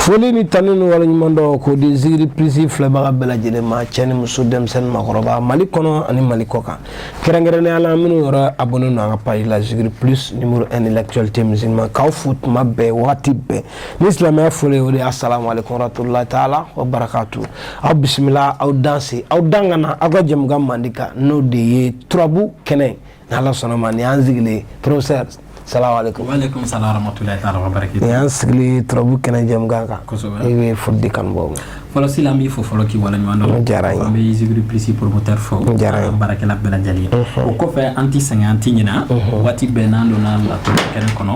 foli ni tanu ni waleɲuman dɔn k'o di zigiri plus filɛbaga bɛɛ lajɛlen ma cɛ ni muso denmisɛn ni makɔrɔba mali kɔnɔ ani mali kɔkan kɛrɛnkɛrɛnnenya la minnu yɛrɛ abonné don an ka page la zigiri plus numéro 1 de l'actualité musulmane k'aw fo tuma bɛɛ wagati bɛɛ ni silamɛya foli o de ye assalamu alaikum warahmatullahi taala wa barakatu aw bisimila aw danse aw dan ka na aw ka jɛmukan mandi kan n'o de ye turabu kɛnɛ ni ala sɔnna ma nin y'an sigilen professeur salamu alaikum wa alaikum salam wa rahmatullahi ta'ala wa barakatuh nin y'an sigilen turabu kɛnɛ jɛmukan kan kosɛbɛ i bɛ foli di kanubaaw ma fɔlɔ sila an b'i fo fɔlɔ k'i waleɲuman dɔn n diyara n ye an bɛ zikiri plus promoteur fo n diyara n ye baarakɛla bɛɛ lajɛlen o kɔfɛ an tɛ sɛgɛn an tɛ ɲinɛ waati bɛɛ n'an donna laturu kɛnɛ kɔnɔ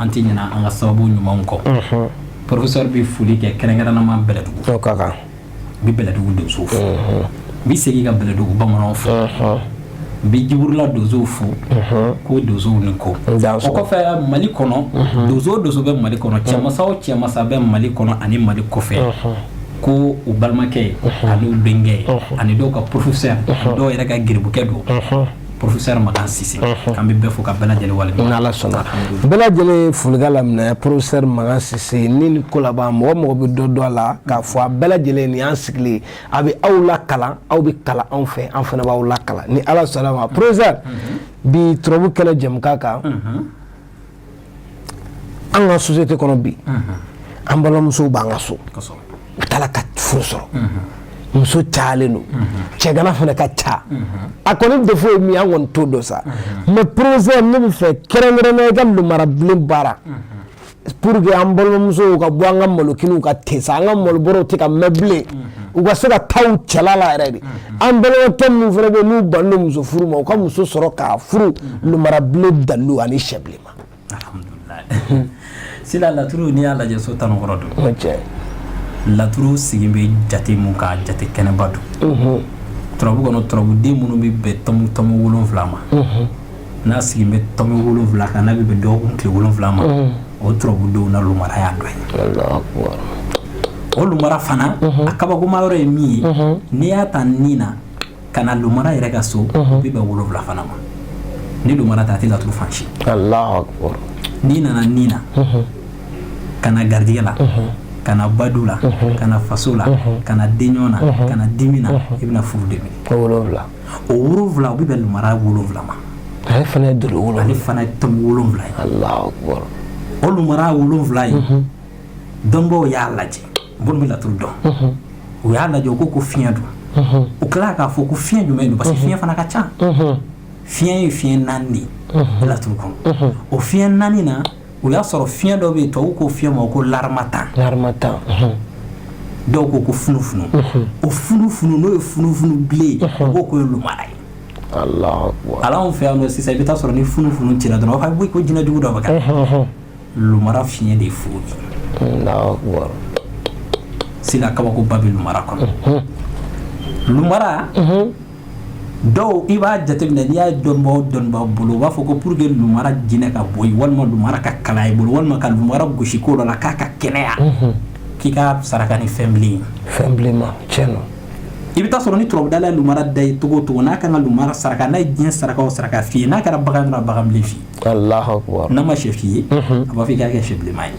an tɛ ɲinɛ an ka sababu ɲumanw kɔ professeur bɛ foli kɛ kɛrɛnkɛrɛnnama bɛlɛdugu o ka kan n bɛ bɛlɛdugu donsow fo n bɛ segin ka bɛlɛdugu bamananw fo n bɛ jiburula donsow fo ko donsow ni ko o kɔfɛ mali kɔnɔ donso o donso bɛ mali kɔnɔ cɛmansa o cɛmansa bɛ mali kɔnɔ ani mali kɔfɛ ko u balimakɛ ye ani u denkɛ ye ani dɔw ka professeur dɔw yɛrɛ ka giribukɛ don professeur Makan Sise mhm. k'an bɛ bɛɛ fo ka bɛɛ lajɛlen waleɲuman n'Ala sɔnna bɛɛ lajɛlen folikan laminɛ professeur Makan Sise ni ni ko laban mɔgɔ o mɔgɔ bɛ dɔ dɔn a la k'a fɔ a bɛɛ lajɛlen nin y'an sigilen a bɛ aw lakalan aw bɛ kalan anw fɛ an fana b'aw lakalan ni Ala sɔnna ma professeur mhm. bi turabu kɛnɛ jɛmukan kan. Mhm. an ka société kɔnɔ bi an balimamusow b'an ka so u tɛ la ka furu sɔrɔ muso cayalen don cɛgana fana ka ca a kɔni défaut ye min an kɔni t'o dɔn sa mais professeur ne bɛ fɛ kɛrɛnkɛrɛnnenya i ka lumara bilen baara pur que an balimamusow ka bɔ an ka malokiniw kan ten sa an ka malobɔrɔ tɛ ka mɛn bilen u ka se ka taa u cɛla la yɛrɛ de an balimakɛ minnu fana bɛ n'u banna muso furu ma u ka muso sɔrɔ k'a furu lumara bilen dalilu ani sɛ bilenman alhamdulillahi sila laturu n'i y'a lajɛ so tan ni wɔɔrɔ don cɛ laturu sigi bɛ jate min kan jate kɛnɛba don turabu kɔnɔ turabuden minnu bɛ bɛn tɔmu tɔmu wolonwula ma n'a sigilen bɛ tɔmi wolonwula kan n'a bɛ bɛn dɔgɔkun tile wolonwula ma o turabudenw na lumara y'a dɔ ye o lumara fana a kabakoma yɔrɔ ye min ye n'i y'a ta ni na ka na lumara yɛrɛ ka so bɛ bɛn wolonwula fana ma ni lumara ta a tɛ laturu fan si n'i nana ni na ka na garijɛ la ka na badu la ka na faso la ka na den ɲɔgɔn na ka na dimi na i bɛna furu de o wolonwula o bɛ bɛn lumara wolonwula ma ale fana ye dolo wolonwula ale fana ye tɔmi wolonwula ye Allahu akbar o lumara wolonwula ye mhm. dɔnbaaw y'a lajɛ minnu bɛ laturu dɔn mhm. u y'a lajɛ u ko ko fiɲɛ don mhm. u tilala k'a fɔ ko fiɲɛ jumɛn don parce que fiɲɛ fana ka ca fiɲɛ ye fiɲɛ naani de ye laturu kɔnɔ o fiɲɛ naani na o y'a sɔrɔ fiɲɛ dɔ bɛ yen tubabuw ko fiɲɛ ma ko laramatan dɔw ko ko funufunu o funufunu n'o ye funufunu bilen u b'o ko ye lumara ye ala anw fɛ yan sisan i bɛ taa sɔrɔ ni funufunu cira dɔrɔn aw bɛ ko jinɛ jugu dɔ bɛ kɛ lumara fiɲɛ de fo sinon kabakoba bɛ lumara kɔnɔ lumara dɔw i b'a jateminɛ n'i y'a dɔnbaw dɔnbaa bolo u b'a fɔ ko pour que lumara jinɛ ka bɔ yen walima lumara ka kala i bolo walima ka lumara gosi ko dɔ la k'a ka kɛnɛya k'i ka saraka ni fɛn bilen fɛn bilen tiɲɛ don i bɛ taa sɔrɔ ni turabudala ye lumara da i ye cogo o cogo n'a ka kan ka lumara saraka n'a ye diɲɛ saraka saraka f'i ye n'a kɛra bagan bagan bilen f'i n'a ma sɛ f'i ye a b'a fɔ i k'a kɛ sɛ bilenma ye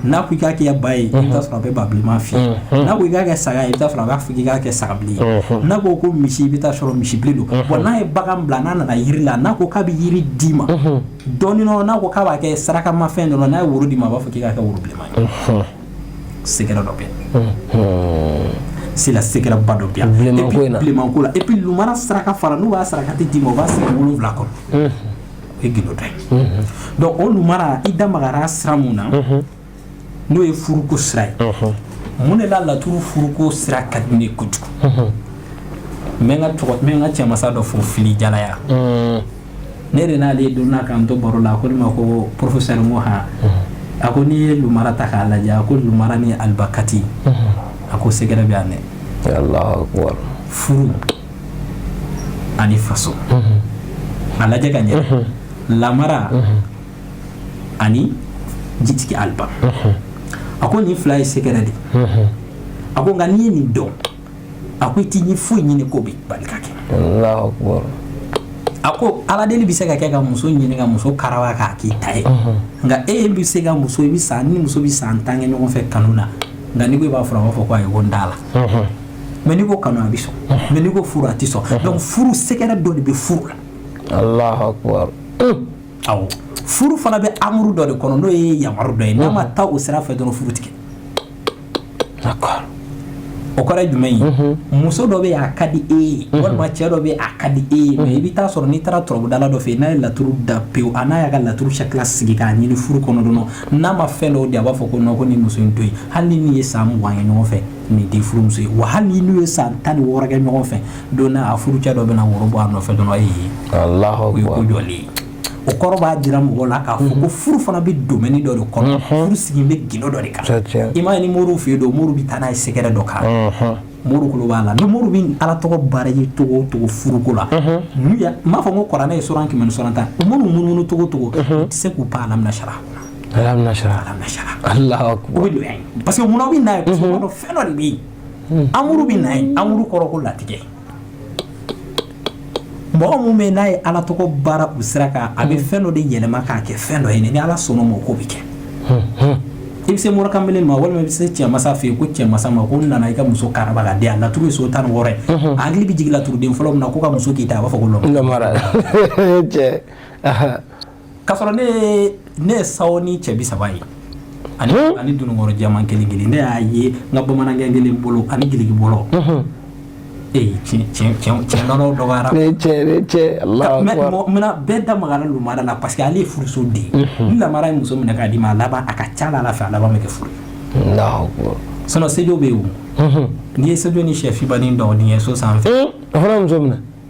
n'a ko i k'a kɛ ba ye i sɔrɔ a bɛ ba bilenma fɔ n'a ko i k'a kɛ saga i sɔrɔ a b'a fɔ i k'a kɛ saga bilen n'a ko ko misi i bɛ taa sɔrɔ misi bilen don wa n'a ye bagan bila n'a nana jiri la n'a ko k'a bɛ jiri d'i ma dɔrɔn n'a ko k'a b'a kɛ sarakamafɛn dɔ n'a ye woro d'i ma a b'a fɔ k'i k'a kɛ woro bilenma ye sɛgɛrɛ dɔ bɛ sɛgɛrɛba dɔ bɛ bilenman ko la epi saraka fana n'u b'a saraka tɛ d'i ma u b'a sigi wolowula kɔnɔ o ye gundo ye donc o lumara i da magara sira min na n'o ye furuko sira ye mun de la laturu furuko sira ka di ne kojugu n ka cɛmasa dɔ fo fili jalaya ne de n'ale don na k'an to baro la a ko ne ma ko porofɛsɛri n ko han a ko n'i ye lumara ta k'a lajɛ a ko lumara ni aliba kati a ko sɛgɛrɛ bɛ yan dɛ furu ani faso a lajɛ ka ɲɛ lamara ani jitigi aliba a ko nin fila ye sɛgɛrɛ de a ko nka n'i ye nin dɔn a ko i tɛ diɲɛ foyi ɲini k'o bɛ bali ka kɛ a ko ala deli bɛ se ka kɛ ka muso ɲini ka muso karawa k'a k'i ta ye nka e bɛ se ka muso i bɛ san ni muso bɛ san tan kɛ ɲɔgɔn fɛ kanu na nka n'i ko i b'a furu a b'a fɔ ko ayi ko n t'a la mɛ n'i ko kanu a bɛ sɔn mɛ n'i ko furu a tɛ sɔn donc furu sɛgɛrɛ dɔ de bɛ furu la alahu akubar awɔ furu fana bɛ amuru dɔ de kɔnɔ n'o ye yamaru dɔ ye n'a ma taa o sira fɛ dɔrɔn furu tɛ kɛ d'accord o kɔrɔ ye jumɛn ye muso dɔ bɛ yen a ka di e ye walima cɛ dɔ bɛ yen a ka di e ye mɛ i bɛ taa sɔrɔ n'i taara turabudala dɔ fɛ yen n'a ye laturu da pewu a n'a y'a ka laturu sakila sigi k'a ɲini furu kɔnɔ dɔrɔn n'a ma fɛn dɔw di a b'a fɔ ko nɔn ko nin muso in to yen hali ni nin ye san mugan kɛ ɲɔgɔn fɛ nin tɛ furumuso ye wa hali n'u ye san tan ni wɔɔrɔ kɛ ɲɔgɔn fɛ don a furu cɛ dɔ bɛna woro bɔ a nɔfɛ dɔrɔn ye o ye ko jɔlen ye o kɔrɔ b'a jira mɔgɔ la k'a fɔ ko mhm. furu fana bɛ domaine dɔ de kɔnɔ mhm. furu sigi bɛ gindo dɔ de kan i m'a ye ni moriw fɛ yen don moriw bɛ taa n'a ye sɛgɛrɛ dɔ kan mhm. moriw tulo b'a la ni moriw bɛ ala tɔgɔ baara ye cogo o cogo furuko la n m'a fɔ ko kuranɛ ye suran kɛmɛ ni suran tan moriw munumunu cogo o cogo u tɛ se k'u pan alam nasara alam nasara alam nasara Allahu akbar o bɛ don yan parce que munna o bɛ na yen parce que o b'a dɔn fɛn dɔ de bɛ yen amuru bɛ na yen amuru kɔrɔ ko latigɛ mɔgɔ min bɛ yen n'a ye ala tɔgɔ baara o sira kan a bɛ fɛn dɔ de yɛlɛma k'a kɛ fɛn dɔ ye ni ala sɔnna o ma o ko bɛ kɛ i bɛ se mɔrɔkanbele ma walima i bɛ se cɛmasa fɛ yen ko cɛmasa ma ko n nana i ka muso karaba k'a di yan laturu ye so tan ni wɔɔrɔ ye a hakili bɛ jigin laturuden fɔlɔ min na ko ka muso k'i ta a b'a fɔ ko lɔmara cɛ K'a sɔrɔ ne ne ye sawo ni cɛ bi saba ye ani ani dununkɔrɔ jɛman kelen kelen ne y'a ye n ka bamanankɛ kelen bolo ani jelikɛ bolo mais bɛɛ da magara lamara la parce que ale ye furuso den ni lamara ye muso minɛ k'a d'i ma a laban a ka ca ala fɛ a laban bɛ kɛ furu sinon sejo bɛ yen n'i ye sejo ni cɛfinba ni dɔgɔnin ye so sanfɛ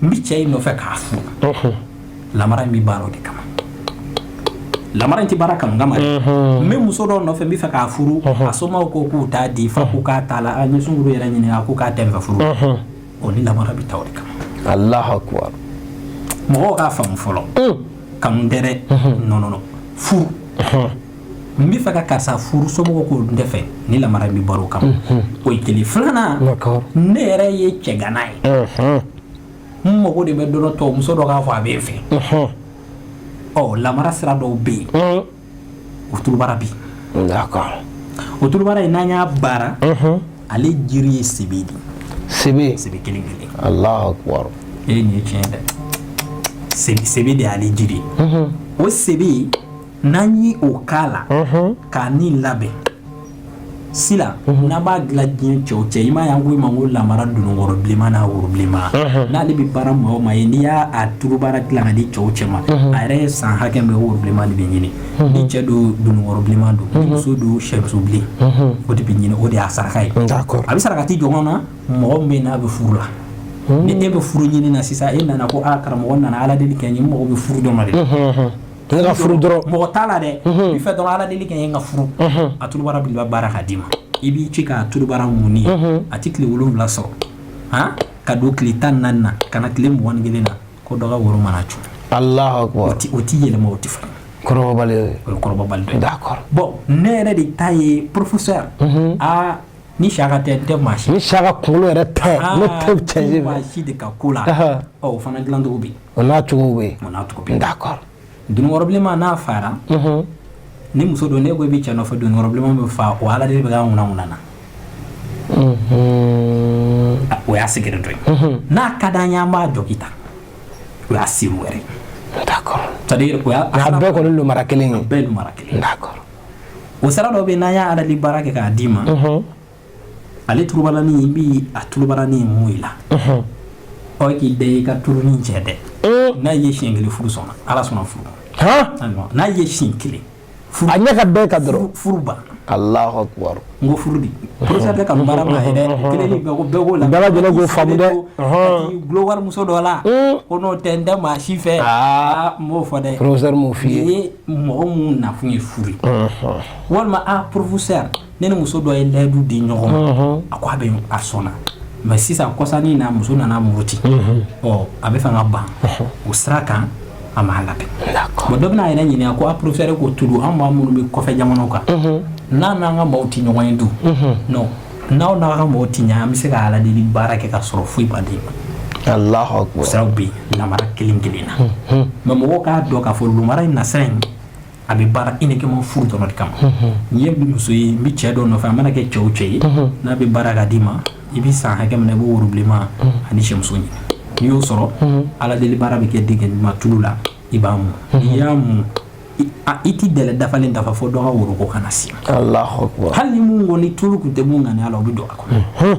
n bɛ cɛ in nɔfɛ k'a furu lamara in bɛ baara o de kama lamara in tɛ baara kanu kama dɛ n bɛ muso dɔ nɔfɛ n bɛ fɛ k'a furu a somɔgɔw ko k'u t'a di fa ko k'a t'a la an ye sungurun yɛrɛ ɲininka a ko k'a tɛ n fɛ furu o ni lamara bɛ taa o de kama Allahu akbar mɔgɔw k'a faamu fɔlɔ kanu tɛ dɛ non non furu n bɛ fɛ ka karisa furu somɔgɔw ko n tɛ fɛ ni lamara in bɛ baara o kama mhm. o ye kelen filanan ne yɛrɛ ye cɛgana ye mhm. n mago de bɛ dɔrɔn tɔ muso dɔ k'a fɔ a bɛ n fɛ mhm. ɔ lamara sira dɔw bɛ yen o turubara bi o turubara in n'an y'a baara ale jiri ye sebe de sebe sebe kelen kelen Allahu akbar e nin ye tiɲɛ dɛ sebe de y'ale jiri o sebe n'an ye o k'a la k'a ni labɛn sila n'an b'a dilan diɲɛ cɛ o cɛ i m'a ye an ko i ma ko lamara dununkɔrɔ bilenman n'a woro bilenman n'ale bɛ baara maa o maa ye n'i y'a turubara dilan k'a di cɛ o cɛ ma a yɛrɛ ye san hakɛ min kɛ woro bilenman de bɛ ɲini ni cɛ don dununkɔrɔ bilenman don ni muso don shɛmuso bilen o de bɛ ɲini o de y'a saraka ye a bɛ sarakati jɔn na mɔgɔ min bɛ yen n'a bɛ furu la ni e bɛ furu ɲini na sisan e nana ko aa karamɔgɔ n nana Ala deli kɛ n ye n mago bɛ furu dɔ ma dɛ N ka furu dɔrɔn mɔgɔ t'a la dɛ i fɛ dɔrɔn ala deli kɛ n ye n ka furu a turubara belebeleba baara k'a d'i ma i b'i ci k'a turubara mun ye a tɛ tile wolon wolonwula sɔrɔ a ka don tile tan naani na ka na tile mugan kelen na ko dɔ ka woro mana cun ala o tɛ yɛlɛma o tɛ falen d'accord bon ne yɛrɛ de ta ye professeur aa Ni saraka tɛ n tɛ maa si ni saraka kunkolo yɛrɛ tɛ ne tɛ cɛ maa si de ka ko la o fana dilancogo bɛ yen o n'a cogo bɛ cogo bɛ d'accord dununkɔrɔ bilenman n'a fara ni muso don ne ko i bɛ cɛ nɔfɛ dununkɔrɔ bilenman bɛ faa o ala de bɛ an kunna kunna na o y'a siri dɔ ye n'a ka di an ye an b'a dɔnkili ta o y'a siri wɛrɛ d'accord o bɛɛ kɔni lumara kelen ye bɛɛ lumara kelen d'accord o sira dɔ bɛ yen n'an y'a ala deli baara kɛ k'a d'i ma ale tulubarani i b'a tulubarani mun i la ɔ k'i da i ka tulu nin cɛ dɛ n'a ye siɲɛ kelen furu sɔnna ala sɔnna furu n'a ye siɲɛ kelen a ɲɛ ka bɛn i kan dɔrɔn furu banna ala N ko furu dɛsɛsa ka baara bila dɛ kelen bɛ ko bɛɛko la bɛɛ fa dɛ wala muso dɔ la ko n'o tɛ n tɛ maa si fɛ aa n b'o fɔ dɛ professeur n b'o f'i ye mɔgɔ minnu nakun ye furu walima a professeur ne ni muso dɔ ye layidu di ɲɔgɔn ma a ko a bɛ a sɔnna mais sisan kɔsa nin na muso nana muruti ɔ a bɛ fɛ ka ban o sira kan a ma labɛn bon dɔ bɛna yɛrɛ ɲininka ko a professeur ko tulu an maa minnu bɛ kɔfɛ jamana kan mhm. an n'an ka maaw tɛ ɲɔgɔn ye dun mhm. non n'aw n'aw ka maaw tɛ ɲɛ an bɛ se ka ala deli baara kɛ ka sɔrɔ foyi badenma o siraw bɛ yen lumara kelen kelen na mhm. mais mɔgɔw k'a dɔn k'a fɔ lumara in nasira in a bɛ baara uniquement furu dɔrɔn de kama n'i ye muso ye n bɛ cɛ dɔ nɔfɛ a mana kɛ cɛ o cɛ ye n'an b'a baara k'a d'i ma i bɛ san hakɛ min na i b'o worobilenma ani syɛmuso ɲini n'i y'o sɔrɔ ala deli baara bɛ kɛ denkɛ ɲuman tulu la i b'a mun n'i y'a mun i tɛ tile dafalen dafa fo dɔgɔ woro kana na se hali ni mun kɔni ni tulu tun tɛ mun na ala o bɛ don a kɔnɔ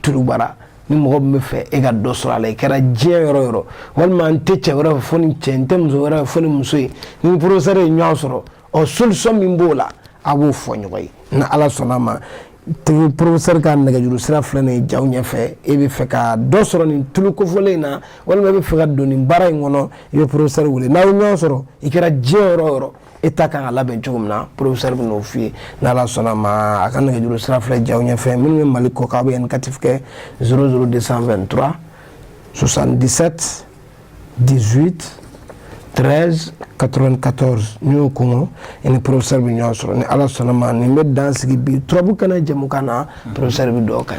tulubara ni mɔgɔ min bɛ fɛ e ka dɔ sɔrɔ a la i kɛra diɲɛ yɔrɔ o yɔrɔ walima n tɛ cɛ wɛrɛ fɛ fo nin cɛ n tɛ muso wɛrɛ fɛ fo nin muso e ni professeur ye ɲɔgɔn sɔrɔ ɔ solution min b'o la aw b'o fɔ ɲɔgɔn ye ni ala sɔnna a ma tigi professeur ka nɛgɛjuru sira filɛ nin ye jaw ɲɛfɛ e bɛ fɛ ka dɔ sɔrɔ nin tulu kofɔlen in na walima e bɛ fɛ ka don nin baara in kɔnɔ i bɛ professeur wele n'aw ye ɲɔgɔn sɔrɔ i kɛra diɲɛ yɔrɔ o yɔrɔ e ta ka kan ka labɛn cogo min na professeur bɛna o f'i ye n'ala sɔnna ma a ka nɛgɛjuru sira filɛ jaw ɲɛfɛ minnu bɛ mali kɔkan aw bɛ indicatif kɛ 00223 77 18 13 94 n'i y'o kɔngɔ i ni professeur bɛ ɲɔgɔn sɔrɔ ni ala sɔnna ma nin bɛ dan sigi bi turabu kɛnɛ jɛmukan na professeur bɛ dɔw kan